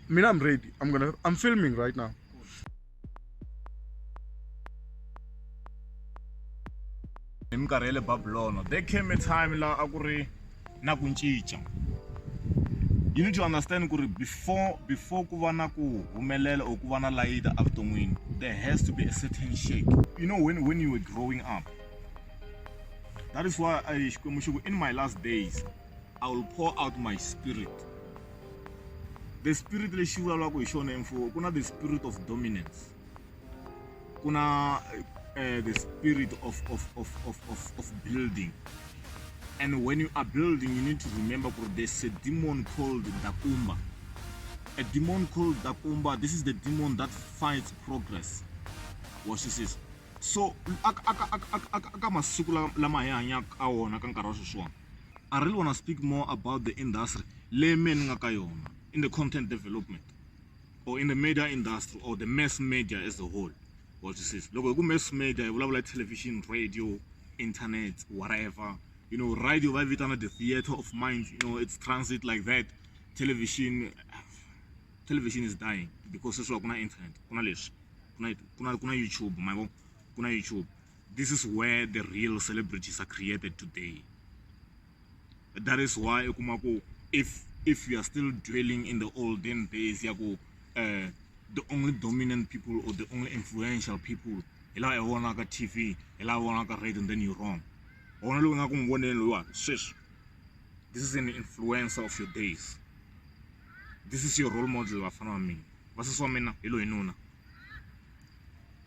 Mina, I'm ready. I'm gonna. I'm filming right now. hi minkarhi ya le babulono there came a time laha a ku ri na ku cinca you need to understand ku ri before before ku va na ku humelela or ku va na layita evuton'wini there has to be a certain shake you know when, when you were growing up that is why I, xikwembu xi ku in my last days I will pour out my spirit the spirit lexi vulavulaka hi xona emfuwo ku na the spirit of dominance ku na uh, the spirit of, of, of, of, of, of building and when you are building you need to remember that there's a demon called dakumba a demon called dakumba this is the demon that fights progress watch this is so aka masiku lama hi hanyaka ka wona ka nkarhi wa sweswiwani I really wanna speak more about the industry leyi mehe ni nga ka yona in the content development or in the media industry or the mass media as a whole wa swi twisisa loko hi ku mass media hi vulavula hi television radio internet whatever you know radio va yi vitana the theatre of mind you know it's transit like that television television is dying because sweswiwa ku na internet ku na leswi ku na ku na ku na youtube ma vo ku na youtube this is where the real celebrities are created today that is why u kuma ku if if you are still dwelling in the olden days ya ku uh, the only dominant people or the only influential people hi laha hi vonaka tv hi laha vonaka radio and then you wrong wona loyi nga ku n'wi voneni loyiwani sweswi this is an influencer of your days this is your role model vafana va mina vasesi wa mina hi loyi nuna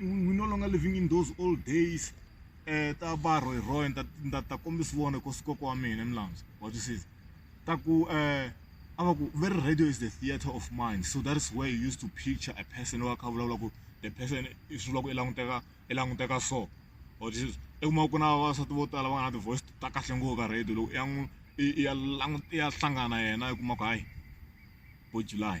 we no longer living in those old days um ta va rhoyi rhoyi ni ta ni ta ta kombisa vona ku si kokwa wa mina milandzu wa twisisa ta ku um a va ku very radio is the theatre of mind so that is where you used to picture a person loyi a kha a vulavula ku the person i swi vula ku i languteka i languteka so wa twisisa i kuma ku na vavasati vo tala va nga na ti-voice ta kahle ngopfu ka radio loko i ya n'wi i ya languta i ya hlangana yena i kuma ku hayi bo july.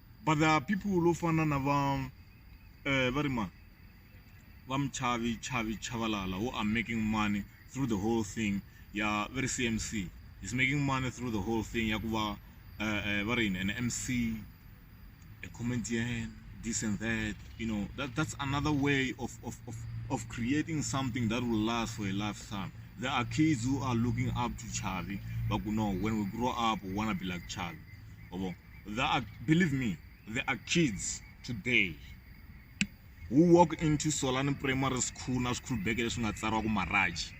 but there are people lo fana na va eh, va ri ma va muchavi chavi chavalala who are making money through the whole thing ya very cmc is making money through the whole thing ya ku va eh, eh, va ri yini an mc a comedian this and that you know that, that's another way of, of, of, of creating something that will last for a lifetime there are kids who are looking up to chavi but no when we grow up we want to be like chavi There are, believe me, there are kids today who walk into Solani Primary School na school bag leswi nga tsariwa ku Maraji.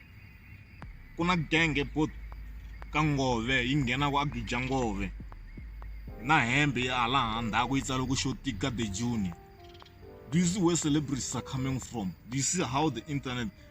Ku na gang ePort ka Ngove yi nghena ku Agija Ngove na hembe ya hala handhaku yi tsariwa ku xo tika the June. Do you see where celebrities are coming from? Do you see how the internet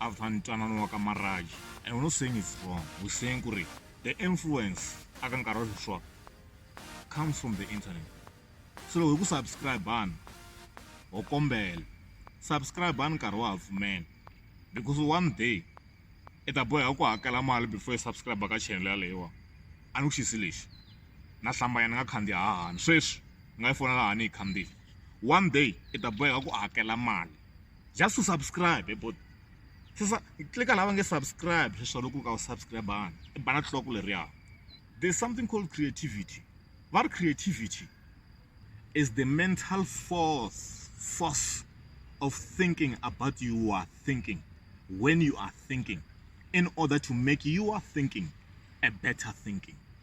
after ntwanano wa ka marriage and we're not saying it's wrong we're saying kuri the influence aka nkarhi wa sweswiwa comes from the internet so loko hi ku subscribana ho kombela subscribani nkarhi wa ha pfumela because one day i ta boheka ku hakela mali before i subscribe ka channel yaleyiwa a ni ku xisi lexi na hlambanya ni nga khandziya hahani sweswi ni nga yi fonela hani yi khandziya one day i ta boheka ku hakela mali just to subscribe he bhuti sesa tlika lava nge subscribe sweswo loko u ka u subscribe-angi i bana tliloko leriya there's something called creativity va ri creativity is the mental force force of thinking about you are thinking when you are thinking in order to make you are thinking a better thinking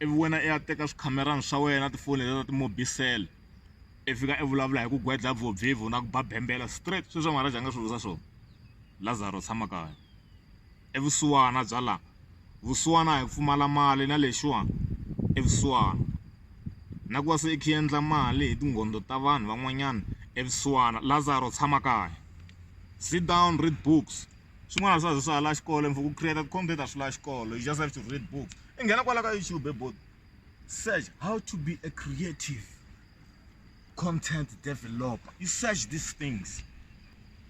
ivi wena i ya teka swikhamerani swa wena na tifoni letiya ta ti-mobicel i fika i vulavula hi ku gwedla vo Vivo na ku ba bembela straight sweswo Maharaj a nga swi vutisa swona Lazarus tshama kaya i vusiwana bya la vusiwana a hi pfumala mali na lexiwa i vusiwana na ku va se i kha i endla mali hi tinghondo ta vanhu van'wanyana i vusiwana Lazarus tshama kaya sit down read books swin'wana a swa ha zi swa ha la xikolo and for ku create content a swi lavi xikolo you just have to read books. i nghena kwala ka youtube he bodo search how to be a creative content developer you search these things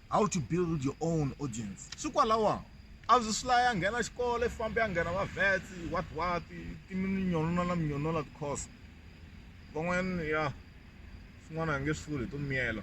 how to build your own audience swi kwalawa a byi swi laya nghena xikolo i fambe ya nghena va vets what what timinyonola na minyonola ticourse van'wana ya swin'wana a nge swi vuli hi to miyela